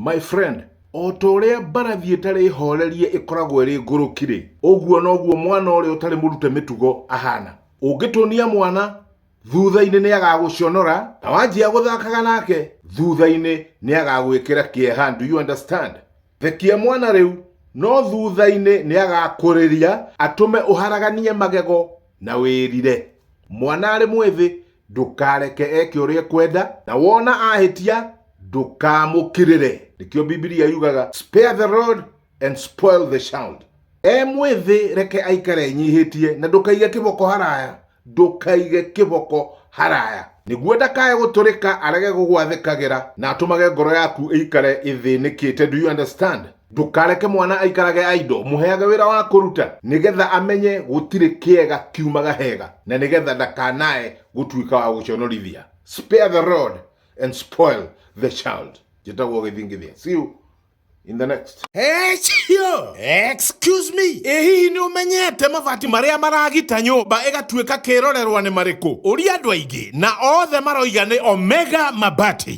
My friend, o ta ũrĩa mbarathi ĩtarĩ hoorerie ĩkoragwo ĩrĩ ngũrũki-rĩ, ũguo noguo mwana ũrĩa ũtarĩ mũrute mĩtugo ahaana. Ũngĩtũnia mwana, thutha-inĩ nĩagagũconora, na wanjia gũthakaga nake, thutha-inĩ nĩagagwĩkĩra kĩeha. Do you understand? Thekia mwana rĩu, no thutha-inĩ nĩagakũrĩria, atũme ũharaganie magego na wĩrire. Mwana arĩ mwĩthĩ, ndũkareke eke ũrĩa ekwenda na wona ahĩtia ndũkamũkirĩre nĩkĩo bibilia yugaga spare the road and spoil the child e mwĩthĩ reke aikare enyihĩtie na ndũkaige kĩboko haraya ndũkaige kĩboko haraya nĩguo ndakae gũtũrĩka arege gũgwathĩkagĩra na atũmage ngoro yaku ĩikare ĩthĩnĩkĩte do you understand ndũkareke mwana aikarage aido mũheage wĩra wa kũruta nĩgetha amenye gũtirĩ kĩega kiumaga hega na nĩgetha ndakanae gũtuĩka wa gũconorithia spare the road and spoil the child njĩtagwo gĩthingithia see you in the next Echio! Excuse me! Ĩ hihi nĩ ũmenyete mabati marĩa maragita nyũmba ĩgatuĩka kĩrorerwa nĩ marĩkũ? Ũria andũ aingĩ na othe maroiga nĩ Omega Mabati.